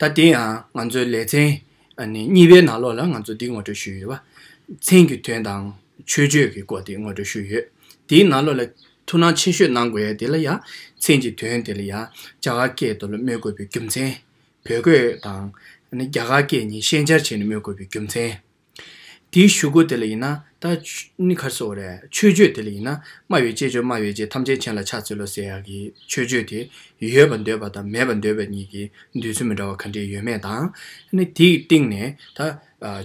ད་དེ་ཡང་ང་ཚོའི་ལེ་ཚན་གཉིས་པའི་ནང་ལོགས་ལ་ང་ཚོ་འདི་ངོ་སྤྲོད་ཞུས་ཡོད། བ་ཚན་གྱི་དོན་དང་ཆོས་སྤྱོད་ཀྱི་སྐོར་དེ་ངོ་སྤྲོད་ཞུས་ཡོད། དེའི་ནང་ལོགས་ལ་ཐུགས་སྣང་ཆེ་ཤོས་གནང་དགོས་ཡ་དེ་ལ་ཡང་ཚན་གྱི་དོན་དེ་ལ་ཡང་རྒྱ་གར་སྐད་དུ་ལ་སྨོས་དགོས་པའི་རྒྱུ་མཚན། བོད་སྐད་དང། རྒྱ་གར་སྐད་གཉིས་ཤན་སྦྱར་བྱས་ནས་སྨོས་དགོས་པའི་རྒྱུ་མཚན། དེའི་ཞུ་སྒོ་དེ་ལ་ཡིན་ན་ད། ནི་གར་སོ་རེད། ཆོས་སྤྱོད་དེ་ལ་ཡིན་ན། སྨྲ་བའི་སྤྱད་སྤྱོད་སྨྲ་བའི་སྤྱད་ཐམས་ཅད་མཁྱེན་ལ་ཕྱག་འཚལ་ལོ་ཟེར་ཡག་གི་ཆོས་སྤྱོད་དེ། ཡོད་པར་འདོད་པ་དང་མེད་པར་འདོད་པའི་གཉིས་ཀྱི་འདོད་ཚུལ་མི་འདྲ་བ་ག་འདྲས་ཡོད་མེད་དང། ནི་དེའི་སྟེང་ནས་ད།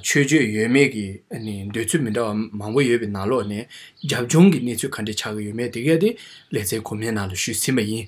ཆོས་སྤྱོད་ཡོད་མེད་ཀྱི་ནི་འདོད་ཚུལ་མི་འདྲ་བ་མང་པོ་ཡོད་པའི་ནང་ལོགས་ནས། རྒྱབ་ལྗོངས་ཀྱི་གནས་ཚུལ་ག་འདྲས་ཆགས་ཀྱི་ཡོད་མེད་དེ་ག་དེ། ལེ་ཚན་གོང་མའི་ནང་ལ་ཞུས་ཟིན་པ་ཡིན།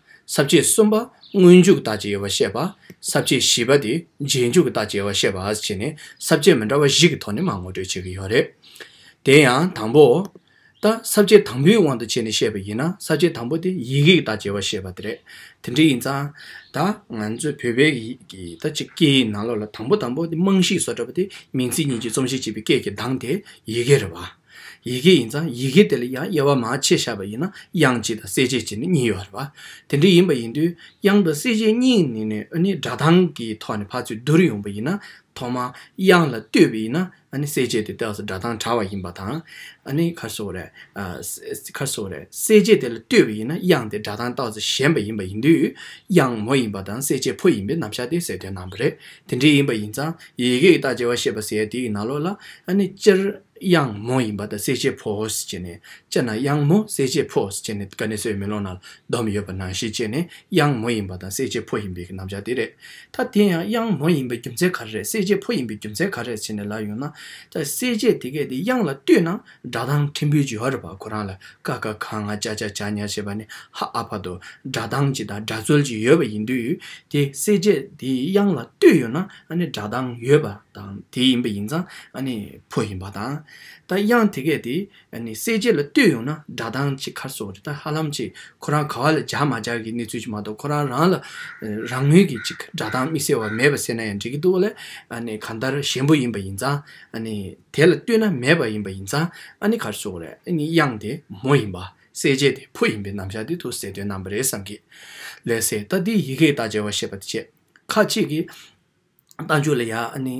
ཟབ་ཆོས་གསུམ་པ་སྔོན་འཇུག་དང་བཅས་ཡོད་པར་བཤད་པ། ཟབ་ཆོས་བཞི་པ་དེ་རྗེས་འཇུག་དང་བཅས་པར་བཤད་པ་བྱས་ནས་ཟབ་ཆོས་མི་འདྲ་བ་བཞི་གི་ཐོག་ནས་མ་ངོ་སྤྲོད་བྱེད་ཀྱི་ཡོད་རེད། དེ་ཡང་དང་པོ། ད་ཟབ་ཆོས་དང་པོའི་དབང་དུ་བྱས་ནས་བཤད་པ་ཡིན་ན་ཟབ་ཆོས་དང་པོ་དེ་ཡིག་ཡིག་དང་བཅས་པར་བཤད་པ་དེ་རེད། དེ་འདྲ་ཡིན་ཙང། ད་ང་ཚོའི་བོད་པའི་ཡིག་གི་སྐད་ཡིག་ནང་ལོགས་ལ་དང་པོ་དང་པོ་དེ་རྨང་གཞིའི་བཟོ་གྲྭ་པ་དེ་མིང་ཚིག་གཉིས་ཀྱི་རྩོམ་གཞི་བྱས་པའི་སྐད་ཀྱི་གདངས་དེ་ཡི་གེ་རེད་བ། ཡི་གེ་ཡིན་ཙང་ཡི་གེ་དེ་ལ་ཡང་དབྱེ་བ་མ་ཕྱེ་བཞག་པ་ཡིན་ན་དབྱངས་གཅིག་དང་གསལ་བྱེད་གཅིག་ནི་གཉིས་ཡོད་རེད་པ། དེ་འདྲ་ཡིན་པ་ཡིན་དུས་དབྱངས་དང་གསལ་བྱེད་གཉིས་ནི་ནི་ཨ་ནི་སྒྲ་གདངས་ཀྱི་ཐོག་ནས་ཕར་ཚུར་བསྡུར་ཡོང་པ་ཡིན་ན་ཐོག་མར་དབྱངས་ལ་ལྟོས་པས་ཡིན་ན་ཨ་ནི་གསལ་བྱེད་དེ་ལྟོས་སུ་སྒྲ་གདངས་དྲ་བ་ཡིན་པ་དང། ཨ་ནི་ཁར་སོ་རེ། ཁར་སོ་རེ། གསལ་བྱེད་དེ་ལ་ལྟོས་པས་ཡིན་ན་དབྱངས་དེ་སྒྲ་གདངས་ལྟོས་སུ་ཞེན་པ་ཡིན་པ་ཡིན་དུས་དབྱངས་མོ་ཡིན་པ་དང་གསལ་བྱེད་ཕོ་ཡིན་པའི་རྣམ་གཞག་དེ་གསལ་སྟོན་གནང་བ་རེད། དེ་འདྲ་ཡིན་པ་ཡིན་ཙང་ཡི་གེ་ཀྱི་བརྟག་དཔྱད་བ་ཤེས་པ་ཟེར་ཡ་དེ་ཡི་ན་ལོག་ལ་ཨ་ནི་སྤྱིར། དབྱང་མོ་ཡིན་པ་དང་གསལ་བྱེད་ཕོ་ཧོས་བྱས་ནས་དཔྱད་ན་དབྱང་མོ་གསལ་བྱེད་ཕོ་ཧོས་བྱས་ནས་ཀ་ནི་སོའི་མེ་ལོང་ན་ལྡོམ་ཡོད་པ་ནང་བཞིན་བྱས་ནས་དབྱང་མོ་ཡིན་པ་དང་གསལ་བྱེད་ཕོ་ཡིན་པའི་གི་རྣམ་བཞག་དེ་རེད། ད་དེ་ཡང་དབྱང་མོ་ཡིན་པའི་རྒྱུ་མཚན་ག་རེ་རེད་གསལ་བྱེད་ཕོ་ཡིན་པའི་རྒྱུ་མཚན་ག་རེ་རེད་བྱས་ནས་ལབ་ཡོང་ན། ད་གསལ་བྱེད་དེ་གས་དེ་དབྱང་ལ་ལྟོས་ན་སྒྲ་གདངས་ཕྲན་བུའི་བརྗོད་ར་བར་ཁོ་རང་ལ་ཀ་ཀ་ཁ་ང་ཅ་ཅ་ཅག་ཉག་བྱས་པ་ནི་ཧ་ཨ་བར་དུ་སྒྲ་གདངས་གཅིག་དང་སྒྲ་རྩོལ་གཅིག་ཡོད་པ་ཡིན་དུས་དེ་གསལ་བྱེད་དེ་དབྱང་ལ་ལྟོས་ཡོད་ན། ཨ་ནི་སྒྲ་གདངས་ཡོད་པ་དང་དེ་ཡིན་པ་ཡིན་ཙང་ཨ་ནི་ཕོ་ཡིན་པ་དང། ད་དབྱངས་དེ་གས་དེ་ཨ་ནི་གསལ་བྱེད་ལ་བཏུད་ཡོང་ན་སྒྲ་གདངས་གཅིག་ཁར་སོགས་རེད་ད་ཧ་ལམ་གཅིག་ཁོ་རང་ག་བ་ལ་སྦྱར་མ་སྦྱར་གྱི་གནས་ཚུལ་གཅིག་མ་གཏོགས་ཁོ་རང་རང་ལ་རང་ངོས་ཀྱི་གཅིག་སྒྲ་གདངས་དམིགས་བསལ་བ་མེད་པ་བསྲེས་ན་ཡང་འགྲིག་གི་འདུག་ལ་ཨ་ནི་གང་ལྟར་གཞན་པོ་ཡིན་པ་ཡིན་ཙང་ཨ་ནི་དེ་ལ་བཏུད་ན་མེད་པ་ཡིན་པ་ཡིན་ཙང་ཨ་ནི་ཁར་སོགས་རེད་ཨ་ནི་དབྱངས་དེ་མོ་ཡིན་པ་གསལ་བྱེད་དེ་ཕོ་ཡིན་པའི་རྣམ་གཞག་འདི་ཐུགས་གསལ་དོན་རྣམ་པ་རེད་བསམ་གི། ལས་གསལ་ད་འདི་ཡི་གེའི་བརྡ་འཇལ་བ་ཤེས་པ་དེ་བྱས། ཁ་ཅིག་གིས། རྟ་མཆོག་ལ་ཡང་ནི།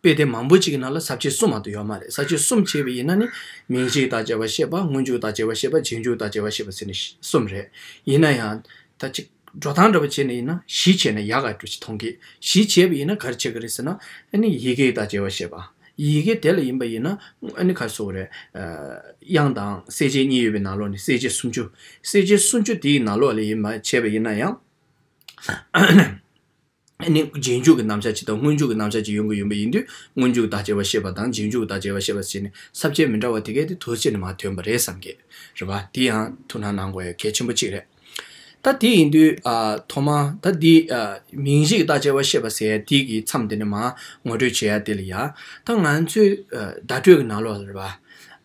དཔེ་དེབ་མང་པོ་གཅིག་གི་ནང་ལ་ཟབ་ཆོས་གསུམ་མང་དུ་ཡོད་མ་རེད་ཟབ་ཆོས་གསུམ་ཕྱེ་བ་ཡིན་ན་ནི། མིང་གཅིག་དང་བྱ་བ་ཤེས་པ་སྔོན་འཇུག་དང་བྱེད་པ་ཤེས་པ་རྗེས་འཇུག་དང་བྱེད་པ་ཤེས་པ་ཟེར་ནས་གསུམ་རེད། ཡིན་ན་ཡང། ད་ཅིག། འགྲོ་སྟངས་འདྲ་པོ་བྱས་ནས་ཡིན་ན་གཞི་བྱས་ནས་ཡག་ག་འགྲོ་ཅི་མཐོང་གི། གཞི་བྱས་པ་ཡིན་ན་གར་བྱེད་གི་རེད་ཟེར་ན། ཨ་ནི་ཡི་གེ་དང་བྱེད་པ་ཤེས་པ། ཡི་གེ་དེ་ལ་ཡིན་པ་ཡིན་ན། ཨ་ནི་གར་སོགས་རེད། དབྱངས་དང་གསལ་བྱེད་གཉིས་ཡོད་པའི་ནང་ལོགས་ནས་གསལ་བྱེད་སུམ་ཅུ། གསལ་བྱེད་སུམ་ཅུ་དེའི་ནང་ལོགས་ལས་ཡིན་མ་བྱས་པ་ཡིན་ན་ཡང། ནི་རྗེས་འཇུག་གི་རྣམ་གཞག་ཅིག་དང་སྔོན་འཇུག་གི་རྣམ་གཞག་ཅིག་ཡོང་གི་ཡོད་པ་ཡིན་དུས་སྔོན་འཇུག་བདག་ཅེས་པ་ཤེས་པ་དང་རྗེས་འཇུག་བདག་ཅེས་པ་ཤེས་པ་བཅས་ནི་ཟབ་ཁྱད་མི་འདྲ་བ་དེ་གས་ཏེ་དུས་ཕྱིས་ནས་མ་ཐོན་པ་རེད་བསམ་གི་རེད་བ། དེ་ཡང་ཐུགས་སྣང་གནང་དགོས་ཡོད་གལ་ཆེན་པོ་གཅིག་རེད། ད་དེ་ཡིན་དུས། ཐོག་མར། ད་འདི། མིང་གཞི་གི་བདག་ཅེས་པ་ཤེས་པ་ཟེར་ཡ་དེ་གི་མཚམས་དེ་ནས་མ། ངོ་སྤྲོད་བྱེད་ཡ་དེ་ལ་ཡ། ད་ང་ཚོའི། བརྡ་སྤྲོད་གི་ནང་ལོགས་ལ་རེད་བ།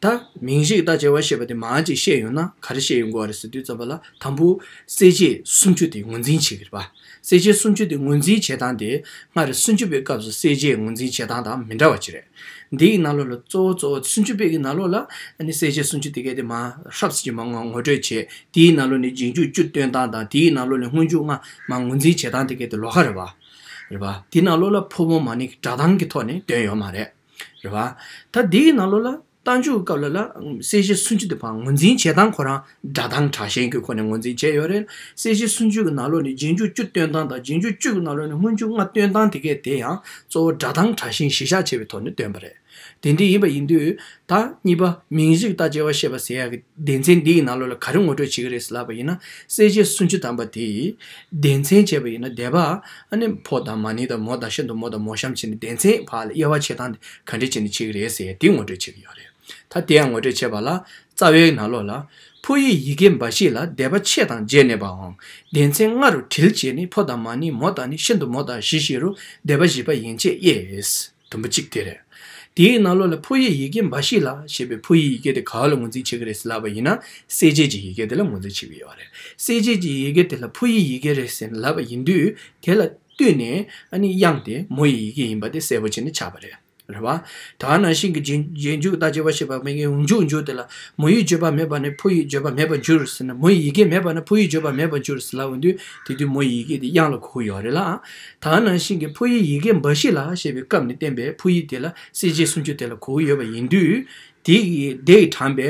ད། མིང་གཞི་གི་བདག་ཅེས་པ་ཤེས་པ་དེ་མ་ཅིག་བཤད་ཡོང་ན་ག་རེ་བཤད་ཡོང་དགོས་བ་རེད་ཟེར་དུས་རྩོམ་པ་ལ། དང་པོ། གསལ་བྱེད་སུམ་ཅུ་དེ་ངོས་འཛིན་བྱེད་ཀྱི་རེད། གསལ་བྱེད་སུམ་ཅུ་དེ་ངོས་འཛིན་བྱེད་སྟངས་དེ་སྔར་སུན་ཅུ་པའི་སྐབས་སུ་གསལ་བྱེད་ངོས་འཛིན་བྱེད་སྟངས་དང་མི་འདྲ་བ་ཅི་རེད། འདི་ཡི་ནང་ལོགས་ལ་གཙོ་བོ་གཙོ་བོ་སུན་ཅུ་པའི་ཡི་ནང་ལོགས་ལ་གསལ་བྱེད་སུམ་ཅུ་དེ་གལ་ཏེ་མ་ཧྲབ་སི་ཅི་མ་ངོ་སྤྲོད་བྱས་དེའི་ནང་ལོགས་ནས་རྗེས་འཇུག་བཅུ་སྟོན་སྟངས་དང་དེའི་ནང་ལོགས་ནས་སྔོན་འཇུག་སྔ་མ་ངོས་འཛིན་བྱེད་སྟངས་དེ་གལ་ཏེ་ལོགས་ཁ་རེད། རེད། དེའི་ནང་ལོགས་ལ་ཕོ་མོ་མ་ནི་སྒྲ་གདངས་ཀྱི་ཐོག་ནས་དོན་ཡོད་མ་རེད། རེད། ད་དེའི་ནང་ལོགས་ལ། རྟ་མཇུག་བཀབ་ལ་ལ་གསལ་བྱེད་སུན་ཅུ་དེ་བང་ངོ་འཛིན་བྱེད་སྟངས་ཁོ་རང་སྒྲ་གདངས་དྲག་ཞན་གྱི་སྒོ་ནས་ངོ་འཛིན་བྱས་ཡོད་རེད། གསལ་བྱེད་སུན་ཅུ་གྱི་ནང་ལོགས་ནི་རྗེས་མཇུག་བཅུ་སྟོན་སྟངས་དང་རྗེས་མཇུག་བཅུ་གྱི་ནང་ལོགས་ནི་སྔོན་མཇུག་ལྔ་སྟོན་སྟངས་དེ་གས་དེ་ཡང་གཙོ་བོ་སྒྲ་གདངས་དྲག་ཞན་གཞི་བཞག་བྱས་པའི་ཐོག་ནས་སྟོན་པ་རེད། དེ་འདི་ཡིན་པ་ཡིན་དུས་ད་གཉིས་པ་མིང་གཞི་ལྟ་དཔྱད་བ་ཤེས་པ་ཟེར་ཡག་གི་སྡེ་ཚན་འདི་ཡི་ནང་ལོགས་ལ་ག་རེ་ངོ་སྤྲོད་བྱེད་ཀྱི་རེད་ལབ་པ་ཡིན་ན་གསལ་བྱེད་སུན་ཅུ་དམ་པ་དེ་ཡིས་སྡེ་ཚན་བྱས་པ་ཡིན་ན་དེ་བ་ཨ་ནི་ཕོ་དང་མ་ནི་དང་མོ་དང་ཤིན་ཏུ་མོ་དང་མོ་གཤམ་བྱས་ནས་སྡེ་ཚན་བ་ལ་དབྱེ་བ་བྱེད་སྟངས་དེ་ག་འདྲི་བྱེད་ནི་བྱེད་ཀྱི་རེད་ཟེར་འདི་ངོ་སྤྲོད་བྱེད་ཀྱི་ཡོད་རེད་ད་དེ་ཡང་ངོ་སྤྲོད་བྱེད་པ་ལ་རྩ་བའི་ན་ལོ་ལ་ཕོ་ཡིག་ཡི་གེ་འབའ་ཞིག་ལ་བཟླས་པ་ཕྱེད་དང་བརྒྱད་ནས་པའང་བདེན་ཚན་ལྔ་རུ་དྲིལ་བྱེད་ནི་ཕོ་དང་མ་ནི་མོ་དང་ནི་ཤིན་ཏུ་མོ་དང་བཞི་བཞི་རུ་བཟླས་པ་བཞི་པ་ཡན་ཆད་དབྱེས། དུམ་བུ་གཅིག་དེ་རེད། དེའི་ན་ལོ་ལ་ཕོ་ཡིག་ཡི་གེ་འབའ་ཞིག་ལ་ཞེས་པའི་ཕོ་ཡིག་ཡི་གེ་དེ་ག་ལ་ངོས་འཛིན་བྱེད་ཀྱི་རེད་ཟེར་ལབ་པ་ཡིན་ན་གསལ་བྱེད་ཀྱི་ཡི་གེ་དེ་ལ་ངོས་འཛིན་བྱེད་ཀྱི་ཡོད་རེད་གསལ་བྱེད་ཀྱི་ཡི་གེ་དེ་ལ་ཕོ་ཡིག་ཡི་གེ་རེད་ཟེར་ལབ་པ་ཡིན་དུས་དེ་ལ། བཏུས་ནས་དབྱངས་དེ་མོ་ཡི་ཡི་གེ་ཡིན་པ་དེ་གསལ་པོ་བྱས་ནས་ཆགས་པ་རེད། རེད་བ། ད་ནང་བཞིན་གྱི་རྗེས་འཇུག་ལྟར་བརྗོད་པ་ཞེས་པ་མེད་ཀི་འཇུག་འགྱུར་དེ་ལ་མོ་ཡིས་བརྗོད་པ་མེད་པ་ནས་ཕོ་ཡིས་བརྗོད་པ་མེད་པར་འགྱུར་ཟེར་ན་མོ་ཡི་ཡི་གེ་མེད་པ་ནས་ཕོ་ཡིས་བརྗོད་པ་མེད་པར་འགྱུར་ཟེར་ལབ་པ་དུས་དེ་དུས་མོ་ཡི་ཡི་གེ་དེ་དབྱངས་ལ་གོ་གི་ཡོད་རེད་ལ། ད་ནང་བཞིན་གྱི་ཕོ་ཡི་ཡི་གེ་འབའ་ཞིག་ལ་ཞེས་པའི་སྐབས་ནས་བསྟན་པའི་ཕོ་ཡིག་དེ་ལ་གསལ་བྱེད་སུམ་ཅུ་དེ་ལ་གོ་གི་ཡོད་པ་ཡིན་དུས། དེ་ཡི་དྲངས་པའི་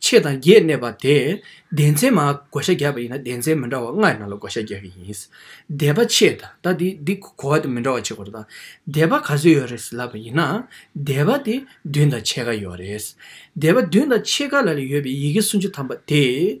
ཕྱེད་དང་བརྒྱད་གནས་པ་དེས་བདེན་ཚན་མ་བགོ་བཤའ་རྒྱག་པ་ཡིན་ན་བདེན་ཚན་མི་འདྲ་བ་ལྔ་ནང་ལ་བགོ་བཤའ་རྒྱག་གི་ཡིན། སྡེ་པ་ཕྱེད་དང་ད་འདི་གོ་བ་དེ་མི་འདྲ་བ་བྱེད་དགོས་རེད་ད། སྡེ་པ་ག་ཚོད་ཡོད་རེད་ལབ་པ་ཡིན་ན། སྡེ་པ་དེ་བདུན་དང་ཕྱེད་ཀ་ཡོད་རེད། སྡེ་པ་བདུན་དང་ཕྱེད་ཀ་ལ་ལ་ཡོད་པའི་ཡི་གེ་སུམ་ཅུ་ཐམ་པ་དེ།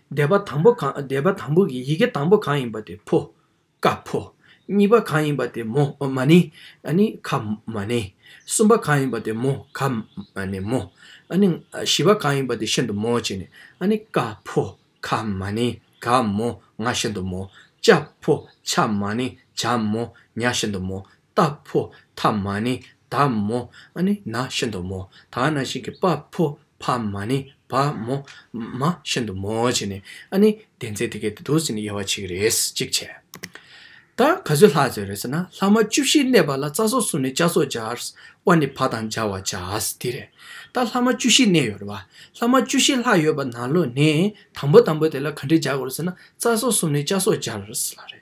བཟླས་པ་དང་པོ་གང་བཟླས་པ་དང་པོ་གི་ཡི་གེ་དང་པོ་གང་ཡིན་པ་དེ་ཕོ། ཀ་ཕོ། གཉིས་པ་གང་ཡིན་པ་དེ་མོ་མ་ནི། ཨ་ནི་ཁ་མ་ནི། གསུམ་པ་གང་ཡིན་པ་དེ་མོ་ཁ་མ་ནི་མོ། ཨ་ནི། བཞི་པ་གང་ཡིན་པ་དེ་ཤིན་ཏུ་མོ་བྱས་ནས་ཨ་ནི་ཀ་ཕོ། ཁ་མ་ནི། ག་མོ། ང་ཤིན་ཏུ་མོ། ཅ་ཕོ། ཆ་མ་ནི། བྱ་མོ། ཉ་ཤིན་ཏུ་མོ། རྟགས་ཕོ་ཐ་མ་ནི་ད་མོ་ནི་ན་ཤིན་ཏུ་མོ་ད་ན་ཤིང་གི་དཔའ་ཕོ་ཕ་མ་ནི་བ་མོ་མ་ཤིན་ཏུ་མོ་བྱས་ནས་ཨ་ནི་དེ་ཚེ་དེ་གའི་དུ་དུ་སི་ནི་ཡ་བ་ཆིག་རེས་ཅིག་བྱས། ད་ག་ཚོད་ལྷག་ཟེར་རེས་ན་ལྷག་མ་བཅུ་བཞི་གནས་པ་ལ་རྩ་སོགས་སུ་ནི་བཅའ་སོགས་སྦྱར། དབའ་ནི་བ་དང་སྦྱར་བ་བྱས་དེ་རེད། ད་ལྷག་མ་བཅུ་བཞི་གནས་ཡོད་རེད་བ། ལྷག་མ་བཅུ་བཞི་ལྷག་ཡོད་པ་ན་ལོ་ནི་དང་པོ་དང་པོ་དེ་ལ་ག་འདྲས་སྦྱར་དགོས་རེས་ན་རྩ་སོགས་སུ་ནི་བཅའ་སོགས་སྦྱར་ལ་རེད།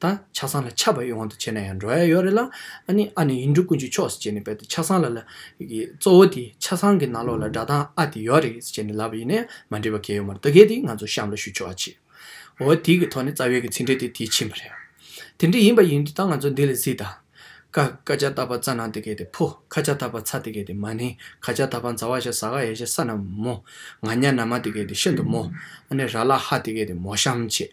ད་ཆགས་སང་ལ་ཆགས་པ་ཡོང་བ་དང་བྱས་ན་ཡང་འགྲོ་ཡ་ཡོད་རེད་ལ། ཨ་ནི་ཨ་ནི་ཡིན་འགྲོ་ཀུན་གྱི་མཆོག་ཟེར་བྱས་ནས་བས་ཏེ་ཆགས་སང་ལ་ལ། གཙོ་བོ་དེ་ཆགས་སང་གི་ནང་ལོགས་ལ་སྒྲ་གདངས་ཨ་དེ་ཡོད་རེད་ཟེར་བྱས་ནས་ལབ་པ་ཡིན་ནས་མ་འགྲིག་པ་གལ་ཡོད་མ་རེད་ད་གལ་ཏེ་ང་ཚོ་གཤམ་ལ་ཞུ་ཆོག་ཨ་ཅི། འོ་དེ་གི་ཐོག་ནས་རྩ་བའི་གི་ཚིག་འགྲེལ་དེ་དེ་ཕྱིན་པ་རེད། དེ་འདྲ་ཡིན་པ་ཡིན་དུས་ད་ང་ཚོ་འདི་ལ་གཟིགས་དང། ཀ་ཀ་ཅག་ད་བ་ཙ་ནང་དེ་གལ་ཏེ་ཕོ་ཁ་ཅག་ད་བ་ཚ་དེ་གལ་ཏེ་མ་ནི་ཁ་ཅག་ད་བ་འཛ་བ་ཞག་ཟ་ག་ཡ་ཞག་ས་ན་མོ། ང་ནྱ་ན་མ་དེ་གལ་ཏེ་ཤིན་ཏུ་མོ། ཨ་ནི་ར་ལ་ཧ་དེ་གལ་ཏེ་མོ་གཤམ་བྱས་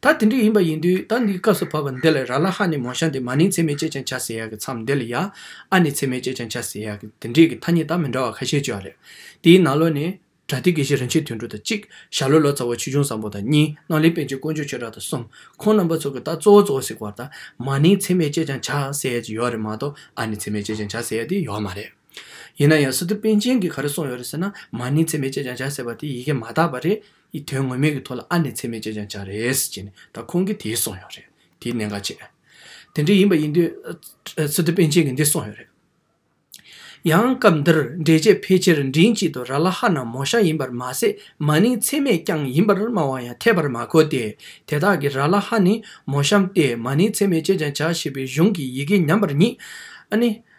ད་དེ་འདྲ་ཡིན་པ་ཡིན་དུས་ད་འདིའི་སྐབས་སུ་བབས་པ་འདི་ལ་ར་ལ་ཧ་ནི་མོ་ཤ་འདི་མ་ནིང་ཚེ་མེད་ཅེས་ཀྱང་བྱ་ཟེར་ཡག་གི་མཚམས་འདི་ལ་ཡ་ཨ་ནི་ཚེ་མེད་ཅེས་ཀྱང་བྱ་ཟེར་ཡག་གི་འདི་འདྲིས་ཀྱི་ཐ་སྙད་དག་མི་འདྲ་བ་ཁ་ཤས་བརྗོད་ཡ་རེད། དེའི་ནང་ལོ་ནི། བྲ་ཏི་དགེ་བཤེས་རིན་ཆེན་དོན་གྲུབ་དང་གཅིག། ཞྭ་ལོ་ལོ་ཙཱ་བ་ཆོས་འབྱུང་བཟང་པོ་དང་གཉིས། སྣང་ལེགས་པན་ཆེན་དཀོན་མཆོག་ཆོས་གྲགས་དང་གསུམ། ཁོང་རྣམ་པ་ཚོ་གི་ད་གཙོ་བོ་གཙོ་བོ་ཟིག་བར་ད་མ་ནིང་ཚེ་མེད་ཅེས་ཀྱང་བྱ་ཟེར་ཡ་ཅིག་ཡོད་རེད་མ་གཏོགས་ཨ་ནི་ཚེ་མེད་ཅེས་ཀྱང་བྱ་ཟེར་ཡ་དེ་ཡོད་མ་རེད། ཡིན་ན་ཡང་སི་ཏུ་པན་ཆེན་གྱིས་ག་རེ་གསུངས་ཡོད་རེད་ཟེར་ན་མ་ནིང་ཚེ་མེད་ཅེས་ཀྱང་བྱ་ཟེར་བ་དེ་ཡི་གེ་མ་དག་པ་རེད། ཡི་དོན་ངོ་མེད་ཀྱི་ཐོག་ལ་ཨ་ནེ་ཚེ་མེད་ཅེས་ཀྱང་བྱ་རེས་ཅེས་ནས་ད་ཁོང་གིས་དེ་གསུངས་ཡོད་རེད་དེའི་གནད་འགག་ཅེས། དེ་འདྲ་ཡིན་པ་ཡིན་དུས་ཚེ་རྡོ་པན་ཆེན་གྱིས་འདི་གསུངས་ཡོད་རེད། ཡང་སྐབས་འདིར་འགྲེལ་བྱེད་ཕལ་ཆེར་མགྲིན་གཅིག་ཏུ་ར་ལ་ཧ་ན་མོ་ཤ་ཡིན་པར་མ་ཟད་མ་ནིང་ཚེ་མེད་རྐྱང་ཡིན་པར་སྨྲ་བ་ཡང་འཐད་པར་མ་གོ་སྟེ་དེ་དག་གིས་ར་ལ་ཧ་ནི་མོ་ཤམ་སྟེ་མ་ནིང་ཚེ་མེད་ཅེས་ཀྱང་བྱ་ཞེས་པའི་གཞུང་གི་ཡི་གེ་ཉམས་པར་ཉིད། ཨ་ནེ།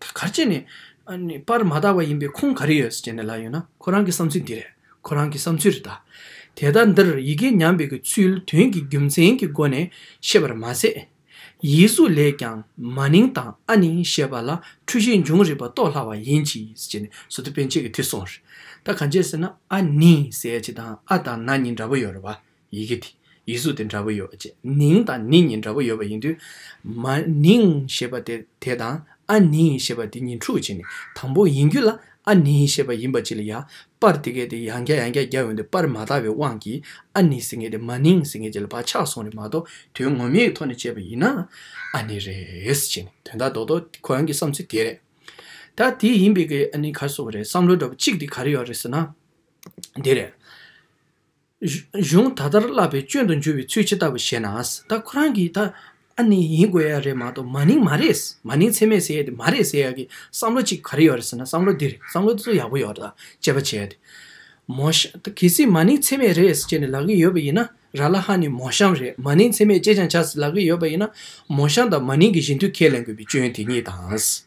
ད་གར་ཅན་ནི། པར་མ་དག་པ་ཡིན་པའི་ཁུངས་ག་རེ་ཡོད་ཅེ་ན་ལ་ཡོད་ན་ཁོ་རང་གི་བསམ་ཚུལ་འདི་རེད་ཁོ་རང་གི་བསམ་ཚུལ་རེ་ད། དེ་ལྟར་འདིར་ཡི་གེ་ཉམས་པའི་གི་ཚུལ་དོན་གྱི་རྒྱུ་མཚན་གྱི་སྒོ་ནས་ཤེས་པར་མ་ཟད། ཡིག་གཟུགས་ལས་ཀྱང་མ་ནིང་དང་ཨ་ནིང་ཞེས་པ་ལ་འཁྲུལ་ཤེས་འབྱུང་རིགས་པ་རྟོགས་སླ་བ་ཡིན་གྱི་ཅེ་ནས་སོ་ཏི་པན་ཆེད་ཀྱི་ཐིག་སོང་རེད། ད་གང་ཅེ་ཟེར་ན་ཨ་ནིང་ཟེར་ཅེ་དང་ཨ་དང་ན་གཉིས་འདྲ་པོ་ཡོད་རེད་བ། ཡི་གེ་དེ་ཡི་གཟུགས་དེ་འདྲ་པོ་ཡོད་ཅེས་ནིང་དང་ནི་གཉིས་འདྲ་པོ་ཡོད་པ་ཡིན་དུས། མ་ནིང་ཞེས་པ་དེ་དེ་དང་ཨ་ནིང་ཞེས་པ་དེ་གཉིས་འཁྲུག་བྱེད་ནི་དང་པོ་ཡིན་རྒྱུ་ལ་ཨ་ནི་ཞེས་པ་ཡིན་པ་ཅི་ལ་ཡ། པར་དེ་གའི་དེ་ཡང་རྒྱ་ཡང་རྒྱ་རྒྱ་འོན་ཏེ་པར་མ་དག་པའི་དབང་གིས་ཨ་ནི་ཟེར་མཁན་དེ་མ་ནིང་ཟེར་མཁན་ཅི་ལ་བག་ཆགས་སོང་རེད་མ་གཏོགས་དོན་ངོ་མའི་ཐོག་ནས་དཔྱད་པ་ཡིན་ན་ཨ་ནི་རེད་ཅེས་ནི་དོན་དག་རྡོག་རྡོག་ཁོ་རང་གི་བསམ་ཚུལ་དེ་རེད། ད་དེ་ཡིན་པའི་གི་ཨ་ནི་ག་བཟོ་བ་རེད་བསམ་བློ་འདྲ་པོ་གཅིག་དེ་ག་རེ་ཡོད་རེད་ཟེར་ན་དེ་རེད། གཞུང་ད་ལྟར་བསླབ་པའི་སྐྱོན་དུ་འགྱུར་བའི་ཚུལ་ཇི་ལྟ་བུ་ཞེ་ན། ད་ཁོ་རང་གིས་ད་ཨ་ནི་ཡིན་དགོས་ཡ་རེད་མ་གཏོགས་མ་ནིང་མ་རེད། མ་ནིང་ཚད་མས་ཟེར་ཡ་དེ་མ་རེད་ཟེར་ཡ་གི་བསམ་བློ་གཅིག་ག་རེ་ཡོད་རེད་ཟེར་ན་བསམ་བློ་འདི་རེད་བསམ་བློ་འདི་ཚོ་ཡག་པོ་ཡོད་རེད་དཔྱད་པ་བྱས་ཏེ། མོ་ཤམ། གལ་སྲིད་མ་ནིང་ཚད་མས་རེད་ཟེར་ནས་ལབ་ཀྱི་ཡོད་པ་ཡིན་ན་ར་ལ་ཧ་ནི་མོ་ཤམ་རེད་མ་ནིང་ཚད་མས་ཅེ་ཅང་བྱ་ཟེར་ལབ་ཀྱི་ཡོད་པ་ཡིན་ན། མོ་ཤམ་དང་མ་ནིང་གི་བཞི་མཐུད་ཁས་ལེན་དགོས་པའི་སྐྱོན་དེ་གཉིས་དང།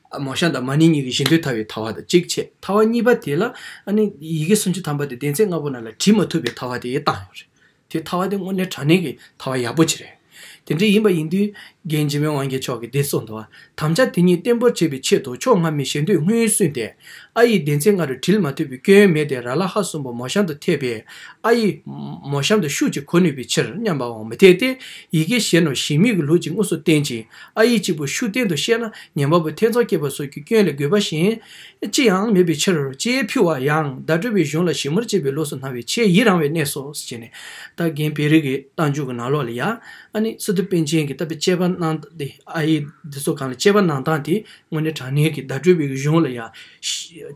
མ་བྱང་དང་མ་ནིང་གཉིས་ཀྱི་བཞི་མདོའི་ཐ་བའི་ཐ་བ་དང་གཅིག་ཕྱེད་ཐ་བ་གཉིས་པ་དེ་ལ། ཡི་གེ་སུམ་ཅུ་ཐམ་པ་དེ་གདན་ཚད་ལྔ་པོ་རྣམས་ལ་བྲི་མ་ཐུབ་པའི་ཐ་བ་དེའི་བཏགས་ཡོད་རེད། དེ་ཐ་བ་དེ་དངོས་གནས་དྲ་ནིང་གི་ཐ་བ་ཡག་པོ་ཆེ་རེད། དེ་འདྲ་ཡིན་པ་ཡིན་དུས། རྒན་འཇིགས་མེད་དབང་རྒྱལ་མཆོག་གིས་འདི་གསུངས་འདུག་དམ་བཅའ་དེ་གཉིས་བརྟན་པོར་བྱེད་པའི་ཆེད་དུ་ཕྱོགས་སྔ་མའི་ཞེ་འདོད་སྔོན་བསུས་ཏེ། ཨ་ཡིག་གདན་ཚད་ལྔ་རུ་བྲིལ་མ་ཐུབ་པའི་སྐྱོན་མེད་དེ་ར་ལ་ཧ་གསུམ་པོ་མོ་བྱང་དུ་ཐེབས་པས། ཨ་ཡིག། མོ་བྱང་དུ་ཤུགས་ཀྱིས་གོ་ནུས་པའི་ཕྱིར་སྙམ་པའང་མི་འཐད་དེ། ཡི་གེ་གཞན་ནོ་ཞིག་མིག་གི་ལུགས་ཀྱིས་དངོས་སུ་བསྟན་ཅིང། ཨ་ཡིག་གཅིག་པུ་ཤུགས་བསྟན་དུ་བཤད་ན་ཉན་པ་པོ་ཐེ་ཚོམ་སྐྱེས་པ་སོགས་ཀྱི་སྐྱོན་ལས་དགོས་པ་གཞན་ཅི་ཡང་མེད་པའི་ཕྱིར་རོ། ལྕེའི་ཕུལ་བ་ཡང་བརྡ་སྤྲོད་པའི་གཞུང་ལ་ཞིབ་མོར་དཔྱད་པའི་ལུགས་སུ་སྣང་བའི་ཆེས་ཡིད་རང་བའི་གནས་སོ་ཞེས་ནི། རྟ་རྒན་བེ་རི་གི་རྟ་མཇུག་གི་ནང་ལོགས་ལ་ཡང། ནི་སི་ཏུ་པན་ཆེན་གྱིས་བཏབ་པའི་དཔྱད་པ་གནང་སྟངས་ཏེ་ཨ་ཡིག་འདི་ཚོ་གང་ལ་དཔྱད་པ་གནང་སྟངས་དེ་དངོས་གནས་དྲང་གནས་ཀྱི་བརྡ་སྤྲོད་པའི་གཞུང་ལ་ཡང།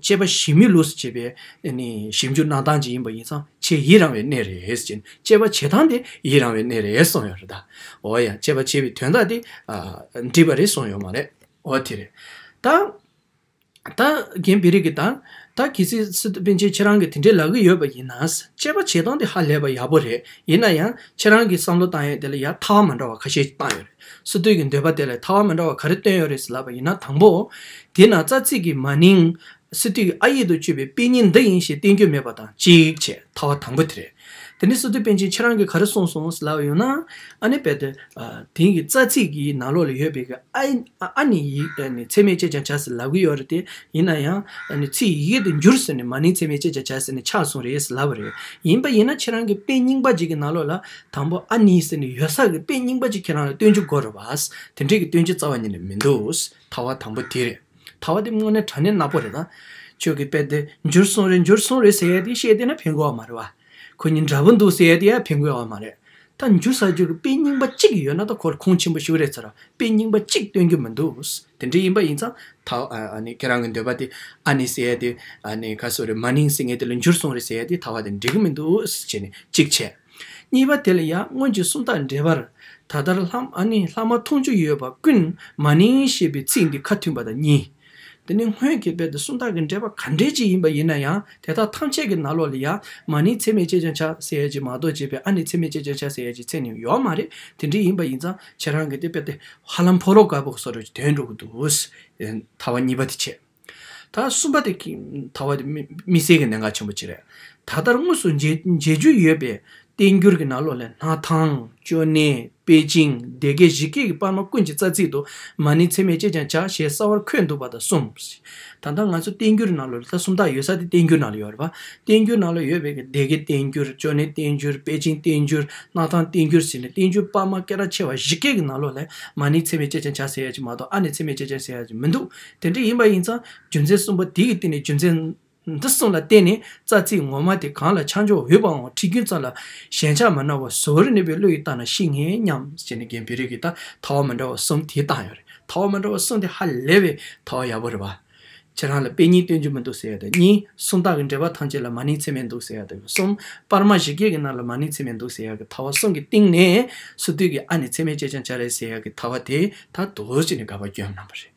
དཔྱད་པ་ཞིབ་མོའི་ལུགས་སུ་བྱས་པའི། ནི་ཞིབ་འཇུག་གནང་སྟངས་ཅིག་ཡིན་པ་ཡིན་ཙང་ཆེས་ཡིད་རང་བའི་གནས་རེད་ཅེས་ནི་དཔྱད་པ་བྱེད་སྟངས་དེ་ཡིད་རང་བའི་གནས་རེད་གསུངས་ཡོད་རེད་ད། འོ་ཡང་བཅས་པ་བྱས་པའི་དོན་དག་དེ། འདྲིས་པ་རེད་གསུངས་ཡོད་མ་རེད། འོ་དེ་རེད། ད། ད་གིན་བི་རིག་གིས་དང། ད་གི་ཚི་སི་ཏུ་པིན་ཆེན་ཁྱེད་རང་གིས་དེ་འདྲའི་ལབ་གི་ཡོད་པ་ཡིན་ན། དཔྱད་པ་བྱེད་སྟངས་དེ་ཧ་ལས་པ་ཡག་པོ་རེད། ཡིན་ན་ཡང་ཁྱེད་རང་གི་བསམ་བློ་བཏང་ཡོད་དེ་ལ་ཡ་མཐའ་བ་མ་འདྲ་བ་ཁ་ཤས་བཏང་ཡོད་རེད། སི་ཏུའི་གི་འདོད་པ་དེ་ལ་མཐའ་བ་མ་འདྲ་བ་ག་རེ་བཏོན་ཡོད་རེད་ཟེར་ལབ་པ་ཡིན་ན་དང་པོ། དེ་ན་རྩ་ཚིག་གི་མ་ནིང། སི་ཏུས་ཨ་ཡིག་ཏུ་བཅོས་པའི་དཔེ་རྙིང་འདི་ཡིན་ཞེས་བསྟན་རྒྱུ་མེད་པ་དང་གཅིག་བྱས་མཐའ་བ་དང་པོ་དེ་རེད། དེ་ནས་སི་ཏུ་པཎ་ཆེན་ཁྱེད་རང་གིས་ག་རེ་གསུངས་སོང་ཟེར་ལབ་ཡོང་ན། ཨ་ནི་པད་དེ་དེང་གི་རྩ་ཚིག་གི་ནང་ལོགས་ལ་ཡོད་པའི་ཨ་ནི་ཡིག་ཚད་མས་དཔྱད་ཀྱང་བྱ་ཟེར་ལབ་གི་ཡོད་རེད་དེ། ཡིན་ན་ཡང། ཚིག་ཡི་གེ་དེ་འགྱུར་ཟེར་ནས་མ་ནིང་ཚད་མས་དཔྱད་ཀྱང་བྱ་ཟེར་ནས་ཆགས་སོང་རེད་ཟེར་ལབ་པ་རེད། ཡིན་པ་ཡིན་ན་ཁྱེད་རང་གི་དཔེ་རྙིང་པ་འཇིག་གི་ནང་ལོགས་ལ་དང་པོ་ཨ་ནི་ཟེར་ནས་ཡོད་ས་གི་དཔེ་རྙིང་པ་ཅིག་ཁྱེད་རང་ལ་སྟོན་རྒྱུ་དགོས་རེད་བ། དེ་འདྲའི་གི་སྟོན་རྒྱུ་རྩ་བ་ཉིད་ནས་མི་འདུག་མཐའ་བ་དང་པོ་དེ་རེད། ད་བ་འདི་དངོས་གནས་དྲ་གནས་ནག་པོ་རེད་ད། ཁྱོད་ཀྱི་དཔེ་དེ་འགྱུར་སོང་རེད་འགྱུར་སོང་རེད་ཟེར་ཡས་དེ་བཤད་དེ་ན་ཕན་དགོས་བ་མ་རེད་བ། ཁོ་གཉིས་འདྲ་པོ་འདུག་ཟེར་ཡས་དེ་ཡང་ཕན་དགོས་བ་མ་རེད། ད་འགྱུར་ཟ་རྒྱུ་གི་དཔེ་རྙིང་པ་གཅིག་གི་ཡོད་ན་ད་ཁོར་ཁུངས་ཆེན་པོ་ཞུ་རེད་ཟེར་བ་དཔེ་རྙིང་པ་གཅིག་སྟོན་རྒྱུ་མི་འདུག་དེ་འདྲ་ཡིན་པ་ཡིན་ཙང་ད་ཨ་ནི་ཁྱེད་རང་གི་འདོད་པ་དེ་ཨ་ནི་ཟེར་ཡས་དེ་ཨ་ནི་ག་སོ་རེད་མ་ནིང་སི་ངེ་དེ་ལ་འགྱུར་སོང་རེད་ཟེར་ཡས་དེ་ད་བ་དེ་འགྲིག་གི་མི་འདུག་ཅེས་ནས་གཅིག་བྱས། གཉིས་པ་དེ་ལ་ཡང་སྔོན་གྱི་སུམ་རྟགས་འགྲེལ་པར། ད་ལྟར་ལྷག་མ་འཐུང་ཆུ་ཡོད་པ་ཀུན་མ་ནིང་ཞེས་པའི་ཚིག་འདི་ཁ་མཐུན་པ་དང་གཉིས། འདི་ནི་སྔོན་གྱི་དཔེ་དང་སུམ་རྟགས་ཀྱི་འགྲེལ་པ་ག་འདྲའི་ཅིག་ཡིན་པ་ཡིན་ན་ཡང་དེ་དག་ཐམས་ཅད་ཀྱི་ནང་ལོགས་ལ་ཡང་མ་ནིང་ཚད་མེད་ཅེས་ཀྱང་བྱ་ཟེར་ཡས་ཀྱི་མ་གཏོགས་ཅེས་པའི་ཨ་ནི་ཚད་མེད་ཅེས་ཀྱང་བྱ་ཟེར་ཡས་ཀྱི་ཚད་ནི་ཡོད་མ་རེད་དེ་འདྲའི་ཡིན་པ་ཡིན་ཙང་ཁྱེད་རང་གི་དེ་དཔེ་དེ་ཧ་ལམ་ཕོ་རོག་དཀར་པོ་སོགས་རེད་ཀྱི་དོན་འགྲོ་གི་འདུག་ཟེར་ཐལ་བ་གཉིས་པ་དེ་བྱས། ད་གསུམ་པ་དེ་ཐ་བ་མི་སེར་གྱི་གནད་འགག་ཆེན་པོ་གཅིག་རེད། ད་ལྟར་དངོས་སུ་མཇལ་རྒྱུ་ཡོད་པའི་བསྟན་འགྱུར་གྱི་ནང་ལོགས་ལས་སྣ་ཐང། ཅོ་ནེ། པེ་ཅིང། སྡེ་དགེ་གཞིས་སྐད་ཀྱི་པར་མ་ཀུན་གྱི་རྩ་ཚིག་ཏུ། མ་ནི་འཚེ་མེད་ཅེས་ཀྱང་བྱ་ཞེས་གསར་བར་འཁོད་འདུག་པ་དང་གསུམ། ད་ལྟར་ང་ཚོའི་བསྟན་འགྱུར་གྱི་ནང་ལོགས་ལས་ད་གསུམ་དག་ཡོད་ས་དེ་བསྟན་འགྱུར་ནང་ལོགས་ཡོད་རེད་པ། བསྟན་འགྱུར་ནང་ལོགས་ཡོད་པའི་སྡེ་དགེ་བསྟན་འགྱུར། ཅོ་ནེ་བསྟན་འགྱུར། པེ་ཅིང་བསྟན་འགྱུར། སྣ་ཐང་བསྟན་འགྱུར་ཟེར་ནས་བསྟན་འགྱུར་པར་མ་སྐད་གྲགས་ཆེ་བ་གཞིས་སྐད་ཀྱི་ནང་ལོགས་ལས། མ་ནི་འཚེ་མེད་ཅེས་ཀྱང་བྱ་ཟེར་ཡ་གཅིག་མ་གཏོགས་ཨ་ནི་འཚེ་མེད་ཅེས་ཀྱང་ཟེར་ཡ་གཅིག་མི་འདུག་དེ་འདྲ་ཡིན་པ་ཡིན་ཙང་རྒྱུ་མཚན་གསུམ་པོ་དེ་ཡི་སྟེང་ནས་རྒྱུ་མཚན་འདི་གསུམ་ལ་བརྟེན་ནས་རྩ་ཚིག་ངོ་མ་དེ་གང་ལ་ཆ་འཇོག་འོས་པའང་ཁྲིད་རྒྱུན་ཙམ་ལ་ཞེན་ཆགས་མ་གནང་བར་གཟོ་བོར་གནས་པའི་བློ་ཡིས་བརྟགས་ན་ཤེས་ངེས་སྙམ། ཞེས་ནི་རྒན་བེ་རི་གིས་ད་ཐ་བ་མི་འདྲ་བ་གསུམ་དེ་བཏང་ཡོད་རེད། ཐ་བ་མི་འདྲ་བ་གསུམ་དེ་ཧ་ལས་པའི་ཐ་བ་ཡག་པོ་རེད་བ། ཁྱེད་རང་ལ་དཔེ་གཉིས་སྟོན་རྒྱུ་མི་འདུག་ཟེར་ཡ་དང་གཉིས་སུམ་རྟགས་ཀྱི་འགྲེལ་པ་ཐམས་ཅད་ལ་མ་ནིང་ཚེར་མའི་འདུག་ཟེར་ཡ་དང་གསུམ་དཔར་མ་བཞི་བརྒྱད་ཀྱི་ནང་ལ་མ་ནིང་ཚེར་མའི་འདུག་ཟེར་ཡ་གི་ཐ་བ་གསུམ་གྱི་སྟེང་ནས་སུ་དུས་ཀྱི་ཨ་ནི་ཚེར་མའི་ལྕེ་ཆང་ཆ་རེད་ཟེར་ཡ་གི་ཐ་བ་དེ་དག་འདུག་ཅེས་ནི་དགའ་བ་སྐྱོན་གནང་བ་རེད།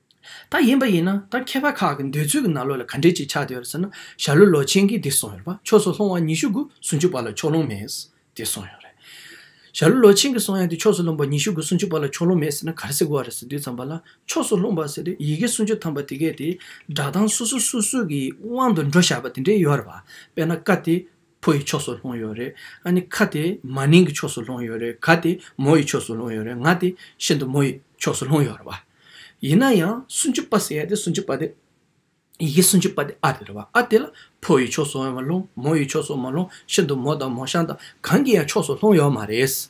ད་ཡིན་པ་ཡིན་ན་ད་མཁས་པ་ཁག་གི་འདོད་ཚུལ་གྱི་ན་ལོ་ལ་ག་འདྲས་ཅིག་ཆགས་བསྡད་ཡོད་རེད་ཟེར་ན་ཞྭ་ལུ་ལོ་ཆེན་གྱིས་འདི་གསུངས་ཡོད་རེད་པ་ཕྱོགས་སུ་ལྷུང་བ་ཉི་ཤུ་དགུ་སུམ་ཅུ་པ་ལ་ཕྱོགས་ལྷུང་མེད་འདི་གསུངས་ཡོད་རེད། ཞྭ་ལུ་ལོ་ཆེན་གྱིས་གསུངས་ཡ་འདི་ཕྱོགས་སུ་ལྷུང་བ་ཉི་ཤུ་དགུ་སུམ་ཅུ་པ་ལ་ཕྱོགས་ལྷུང་མེད་ཟེར་ན་ག་རེ་ཟེར་དགོས་བ་རེད་ཟེར་དུས་ཙམ་པ་ལ་ཕྱོགས་སུ་ལྷུང་བ་ཟེར་དུས་ཡི་གེ་སུམ་ཅུ་ཐམ་པ་དེ་གས་དེའི་སྒྲ་གདངས་སོ་སོ་སུ་སུ་གྱི་དབང་དུ་འགྲོ་བཞག་པ་དེ་འདྲས་ཡོད་རེད་བ་དཔེར་ན་བཀའ་དེ་ཕོ་ཡི་ཕྱོགས་སུ་ལྷུང་ཡོད་རེད། ཨ་ནི་ཁ་དེ་མ་ནིང་གི་ཕྱོགས་སུ་ལྷུང་ཡོད་རེད་ག་དེ་མོ་ཡི་ཕྱོགས་སུ་ལྷུང་ཡོད་རེད་ང་དེ་ཤིན་ཏུ་མོ་ཡི་ཕྱོགས་སུ་ལྷུང་ཡོད་རེད་བ། ཡིན་ན་ཡང་སུན་ཅུ་པ་ཟེར་ཡ་དེ་སུན་ཅུ་པ་དེ་ཡི་གེ་སུན་ཅུ་པ་དེ་ཨ་དེ་རེད་བ་ཨ་དེ་ལ་ཕོ་ཡི་ཕྱོགས་སུའང་མ་ལྷུང་མོ་ཡི་ཕྱོགས་སུའང་མ་ལྷུང་ཤིན་ཏུ་མོ་དང་མོ་ཤང་དང་གང་གི་ཡང་ཕྱོགས་སུ་ལྷུང་ཡོད་མ་རེད།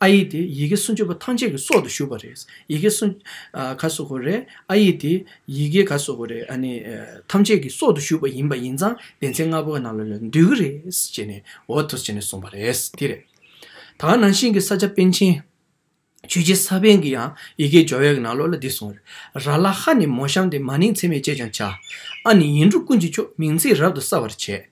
ཨ་ཡིག་དེ་ཡི་གེ་སུམ་ཅུ་པོ་ཐམས་ཅད་ཀྱི་སྲོག་ཏུ་ཞུགས་པ་རེད། ཡི་གེ་སུམ། ག་སོགས་ཀོ་རེད། ཨ་ཡིག་དེ་ཡི་གེ་ག་སོགས་ཀོ་རེད། ཨ་ནི། ཐམས་ཅད་ཀྱི་སྲོག་ཏུ་ཞུགས་པ་ཡིན་པ་ཡིན་ཙང་བདེན་ཚིག་ལྔ་པོ་ག་ནང་ལ་ལ་འདུས་ཀྱི་རེད། ཅེས་ནས་འོ་ཐོས་ཅེས་ནས་གསུངས་པ་རེད། དེ་རེད། ད་ནང་བཞིན་གྱི་ས་ཆ་པན་ཆེན། ཆོས་རྗེ་ས་པན་གྱི་ཡང་ཡི་གེའི་སྦྱོར་བའི་ག་ནང་ལོ་ལ་འདི་གསུངས་རེད། ར་ལ་ཧ་ནི་མོ་གཤམ་སྟེ་མ་ནིང་ཚེ་མེད་ཅེས་ཀྱང་བྱ། ཨ་ནི་ཡིན་དྲུག་ཀུན་གྱི་མཆོག་མིང་ཚིག་རབ་ཏུ་གསལ་བར་བྱེད།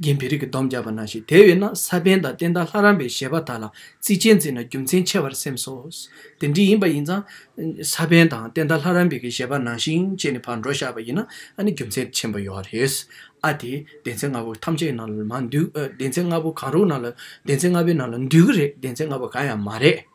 རྒན་བེ་རི་གིས་སྡོམ་བརྒྱབ་པ་ན་ཞིག་དེ་བས་ན་ས་པན་དང་བསྟན་དར་ལྷ་རམས་པའི་བཞེད་པ་དག་ལ་གཙིགས་ཆེན་འཛིན་ན་རྒྱུ་མཚན་ཆེ་བར་སེམས་སོ། དེ་འདྲ་ཡིན་པ་ཡིན་ཙང། ས་པན་དང་བསྟན་དར་ལྷ་རམས་པའི་གི་བཞེད་པ་ནང་བཞིན་སྤྱད་ནས་ཕར་འགྲོ་བཞག་པ་ཡིན་ན་ཨ་ནི་རྒྱུ་མཚན་ཆེན་པོ་ཡོད་རེད། ཨ་དེས་གདན་ཚན་ལྔ་པོ་ཐམས་ཅད་ནང་ལ་མ་འདུས། གདན་ཚན་ལྔ་པོ་གང་རུང་ནང་ལ་གདན་ཚན་ལྔ་པོའི་ནང་ལ་འདུས་ཀྱི་རེད་གདན་ཚན་ལྔ་པོ་གང་ཡང་མ་རེད།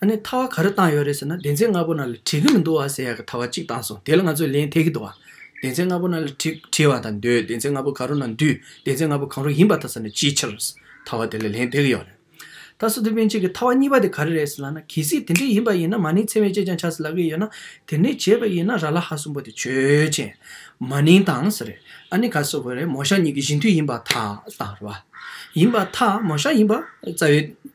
ཨ་ནི་ཐ་བ་ག་རེ་བཏང་ཡོད་རེད་ཟེར་ན་བདེན་ཚན་ལྔ་པོ་ན་ལ་བྲིས་ཀྱི་མི་འདུག་བ་ཟེར་ཡག་གི་ཐ་བ་གཅིག་བཏང་སོང་དེ་ལ་ང་ཚོས་ལན་ཐེག་གི་འདུག་བ། བདེན་ཚན་ལྔ་པོ་ན་ལ་བྲིས་བ་དང་འདོད་བདེན་ཚན་ལྔ་པོ་ག་རུ་ན་འདུས་བདེན་ཚན་ལྔ་པོ་གང་རུང་ཡིན་པ་ཐ་ས་ནས་ཅིའི་ཕྱིར་ཐ་བ་དེ་ལ་ལན་ཐེག་གི་ཡོད་རེད། ད་སོ་དེ་བན་ཆེན་གྱི་ཐ་བ་གཉིས་པ་དེ་ག་རེ་རེད་ཟེར་ལགས་ན་གལ་སྲིད་དེ་འདྲས་ཡིན་པ་ཡིན་ན་མ་ནིང་ཚེ་བན་ཅེས་ཀྱང་ཆགས་སྲིད་ལགས་ཀྱི་ཡོད་ན་དེ་འདྲས་བྱས་པ་ཡིན་ན་ར་ལ་ཧ་གསུམ་པོ་དེ་ཆོས་ཅན། མ་ནིང་དང་ཟེར་རེད་ཨ་ནི་ག་སོ་གོ་རེད་མོ་ཤ་གཉིས་ཀྱི་བཞི་མཐུད་ཡིན་པ་ཐ་དང་རེད་བ། ཡིན་པ་ཐ་མོ་ཤ་ཡིན་པ་རྩ་བའི།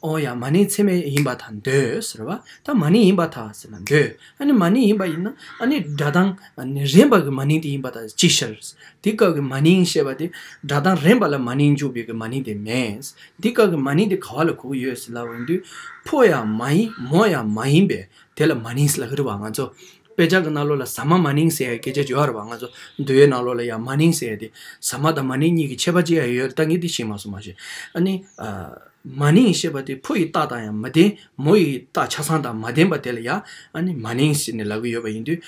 ཨོ་ཡ་མ་ནི་ཚད་མེད་ཡིན་པ་དང་འདོད་ཟེར་བ་དང་མ་ནི་ཡིན་པ་དང་ཟེར་ན་འདོད་ཨ་ནི་མ་ནི་ཡིན་པ་ཡིན་ན་ཨ་ནི་སྒྲ་གདངས་རན་པ་གི་མ་ནི་དེ་ཡིན་པ་དང་ཅི་ཕྱིར། འདི་སྐབས་ཀྱི་མ་ནི་ཞེས་པ་དེ་སྒྲ་གདངས་རན་པ་ལ་མ་ནི་འཇུག་པའི་གི་མ་ནི་དེ་མེད། འདི་སྐབས་ཀྱི་མ་ནི་དེ་ག་བ་ལ་གོ་གི་ཡོད་ཟེར་ལ་འོན་དུས་ཕོ་ཡང་མ་ཡིན་མོ་ཡང་མ་ཡིན་པས་དེ་ལ་མ་ནི་ཟེར་ལ་ཧི་རུ་བ་ང་ཚོ་དཔེ་ཆ་གི་རྣ་ལོ་ལ་ཟ་མ་མ་ནིང་ཟེར་ཡ་སྐད་ཆ་བརྗོད་ཡར་བ་ང་ཚོ་འདུལ་བའི་རྣ་ལོ་ལ་ཡང་མ་ནིང་ཟེར་ཡ་དེ་ཟ་མ་དང་མ་ནིང་གཉིས་ཀྱི་ཁྱད་པ་ཅི་ཡང་ཡོད་ད་ངས་དེ་ཤེས་མ་སོང་མ་ཤེས་ཨ་ནི། མ་ནིང་ཞེས་པ་དེ་ཕོ་ཡི་རྟགས་དང་ཡང་མ་ལྡན་མོ་ཡི་རྟགས་ཆ་ཚང་དང་མ་ལྡན་པ་དེ་ལ་ཡང་མ་ནིང་ཟེར་ནས་ལབ་ཀྱི་ཡོད་པ་ཡིན་དུས།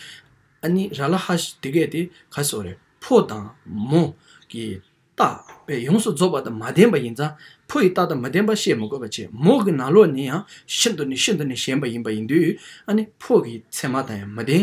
ར་ལ་ཧ་ཞེས་དེ་སྐད་དེ་ག་ཟེ་བ་རེད་ཕོ་དང་མོ་གི་རྟགས་པས་ཡོངས་སུ་རྫོགས་པ་དང་མ་ལྡན་པ་ཡིན་ཙང་ཕོ་ཡི་རྟགས་དང་མ་ལྡན་པ་བཤད་མི་དགོས་པ་ཆེ་མོ་གི་ནང་ལོགས་ནི་ཡང་ཤིན་ཏུ་ནས་ཤིན་ཏུ་ནས་ཞན་པ་ཡིན་པ་ཡིན་དུས། ཕོ་གི་མཚན་མ་དང་ཡང་མ་ལྡན་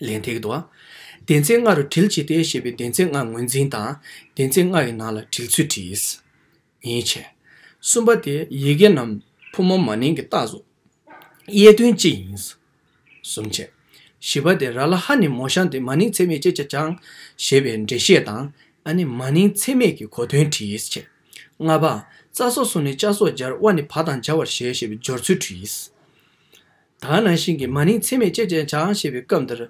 ལན། ཐིག་ཏུ། བདེན་ཚིག་ལྔ་རུ་དྲིལ་ཇི་ལྟའི་ཞེས་པའི་བདེན་ཚིག་ལྔ་ངོས་འཛིན་དང་བདེན་ཚིག་ལྔ་ཡི་ནང་ལ་དྲིལ་ཚུལ་བྲིས། ཉེས་བྱས། གསུམ་པ་སྟེ་ཡི་གེ་རྣམས་ཕོ་མོ་མ་ནིང་གི་རྟགས་སུ། དབྱེ་དོན་ཅི་ཡིན། གསུམ་བཅས། བཞི་པ་སྟེ་ར་ལ་ཧ་ནི་མོ་ཤང་སྟེ་མ་ནིང་ཚད་མེད་ཅེས་བྱ་ཅང་ཞེས་པའི་འགྲེལ་བཤད་དང་ཨ་ནི་མ་ནིང་ཚད་མེད་ཀྱི་གོ་དོན་བྲིས། ལྔ་པ། རྩ་སོགས་སུ་ནི་ལྕགས་སོགས་སྦྱར་དབའ་ནི་བ་དང་སྦྱར་བར་བཞེད་ཞེས་པའི་སྦྱོར་ཚུལ་བྲིས། དག་ནང་བཞིན་གྱི་མ་ནིང་ཚད་མས་དཔྱད་ཅན་བྱ་ཨང་ཞེས་པའི་སྐབས་འདིར།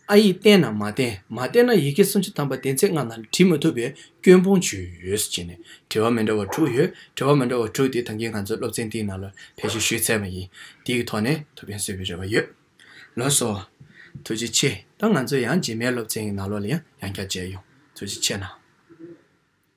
ཨ་ཡིག་བསྟན་ནམ་མ་བསྟན་མ་བསྟན་ན་ཡི་གེ་སུམ་ཅུ་ཐམ་པ་བདེན་ཚད་ལྔ་ནང་བྲི་མ་ཐུབ་པའི་སྐྱོན་སྤོང་བྱོས་ཅེས་ནས་དྲི་བ་མི་འདྲ་བ་དྲུག་ཡོད་དྲི་བ་མི་འདྲ་བ་དྲུག་དེ་ཐང་གིས་ང་ཚོའི་སློབ་ཚན་འདིའི་ནང་ལ་ཕེབས་ཞིབ་ཞུས་ཚར་བ་ཡིན། དེའི་ཐོག་ནས་ཐུགས་ཕན་གསོས་པའི་རེ་བ་ཡོད། ལོན་སོ། ཐུགས་རྗེ་ཆེ། ད་ང་ཚོ་ཡང་རྗེས་མའི་སློབ་ཚན་གྱི་ནང་ལོགས་ལ་ཡང་ཡང་བསྐྱར་མཇལ་ཡོང། ཐུགས་རྗེ་ཆེ་གནང།